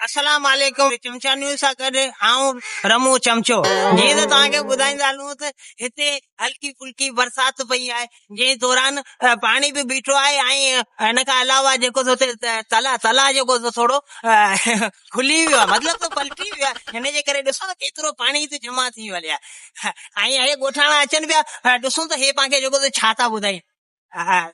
السلام عليڪم چمچا نيوز سان گڏ آئون رمون چمچو جيئن ته توهان کي ٻڌائيندا هلون ته هتي هلڪي ڦلڪي برسات پئي آهي جنهن دوران پاڻي به بيٺو آهي ۽ ان کان علاوه جيڪو هتي تلا تلا جيڪو ٿورو کلي ويو آهي مطلب ته پلٽي ويو آهي هن جي ڪري ڏسو ته ڪيترو پاڻي هتي جمع ٿي ويو هلي آهي ۽ هي ڳوٺاڻا اچن پيا ڏسون ته هي پنهنکي جيڪو ٿو ڇا ٿا ٻڌائين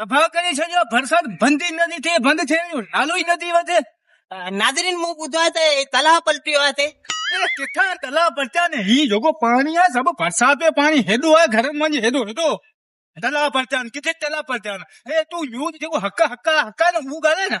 تباهه ڪري ڇڏيو آهي برسات بند ئي نٿي ٿئي بند ٿيڻ جو نالو ئي نٿي وٺي ناظرين مون ٻڌو آهي ته تلاء پلٽيو آهي اتي ڪٿان تلاء پلٽيا نه هي جيڪو پاڻي آهي سڀ برسات جو پاڻي هيڏو آهي گهرن مان جي هيڏو هيڏو تلاء پلٽيا آهن ڪٿي تلاء پلٽيا آهن اي تون نيوز جيڪو حق حق حق آهي نه اهو ڳالهائي نه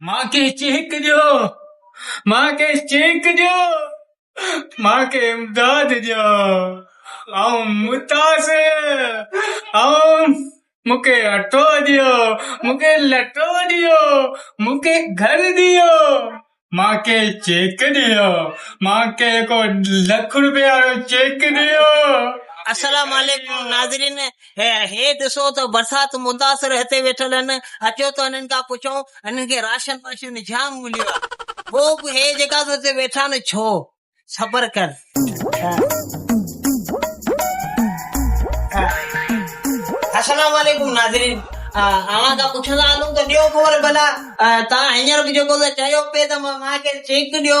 مان کي چيڪ ڏيو، مان کي چيڪ ڏيو، مان کي امداد ڏيو، آئون متاث، آئون، مون کي اٽو ڏيو، مون کي لٽو ڏيو، مون کي گهر ڏيو، مان کي چيڪ ڏيو، مان کي ڪو لک روپيا وارو چيڪ ڏيو. السلام عليڪم ناظرين هي ڏسو ته برسات متاثر هتي ويٺل هن، اچو ته هنن کان پڇون، هنن کي راشن واشن جام مليو آ، ٻو به هي جيڪا تو هتي ويٺا آهن ڇو؟ صبر ڪر. السلام عليڪم ناظرين اوهان کان پڇندا هلون ته ڏيو خبر ڀلا توهان هينئر به جيڪو ته چيو پئي ته مارڪيٽ چيڪ ڏيو.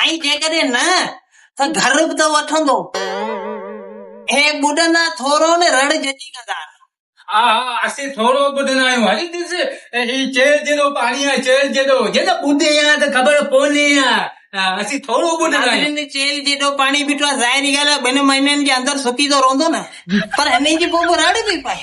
۽ جيڪڏهن نه ته گهر به ته وٺندو. هي ٻڏندا ٿورو ۾ رڙ ججي ڪندا. ها ها اسين ٿورو ٻڏندا آهيون. هلي ڏس هي چيل جيڏو پاڻي آهي چيل جيڏو. جي ته ٻڏي ها ته خبر پوني ها اسين ٿورو ٻڏندا آهيون. ناظرين چيل جيڏو پاڻي بيٺو آهي ظاهري ڳالهه آهي ٻن مهينن جي اندر سڪي ته رهندو نه پر هنئين جي پوء به رڙ پئي پائي.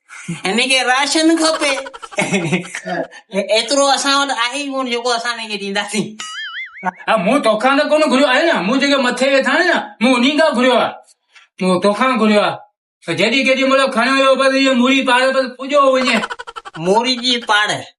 هن کي راشن کپي ايترو اسان وٽ آهي ئي ڪونه جيڪو اسان هن کي ڏينداسين. ها مون توکان ته ڪونه گهريو آهي نه مون جيڪي مٿي ويٺا آهيون نه مون انهي کان گهريو آهي مون توکان گهريو آهي ته جيڏي ڪيڏي مهل کڻيو ويو بس هيء موري پاڙي بس پڄيو وڃي. موري جي پاڙي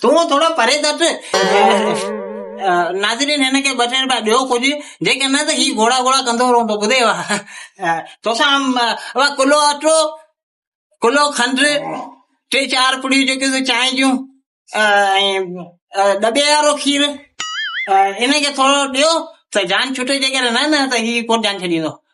تون ٿورو پري تٽ. ناظرين هن کي ٻه ٽي روپيا ڏيو ڪجهه جيڪڏهن نه ته هي گهوڙا گهوڙا ڪندو رهندو ٻڌئي وا توسان وا ڪلو اٽو ڪلو کنڊ ٽي چار پڙيون جيڪيون سو چانهه جون ڏٻي وارو کير ان کي ٿورو ڏيو ته جان ڇٽي جيڪڏهن نه نه ته هي ڪوٽ جان ڇڏيندو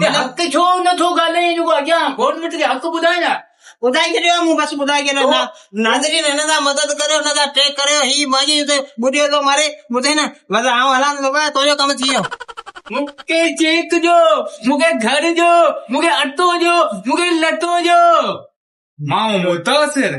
ته حق ڇو نه ٿو ڳالهائين جيڪو اڳيان گورنمينٽ کي حق ٻڌائين ها ٻڌائي ڇڏيو مون بس ٻڌائي ڇڏيو ناظرين هن سان مدد ڪريو هن سان ٽيڪ ڪريو هي ماجي ته ٻڏيو ٿو ماري ٻڌي نه بس آئون هلان ٿو بابا تنهنجو ڪم ٿي ويو مونکي چيڪ ڏيو مونکي گهر ڏيو مونکي اٽو ڏيو مونکي لٽو ڏيو ماڻهو متاثر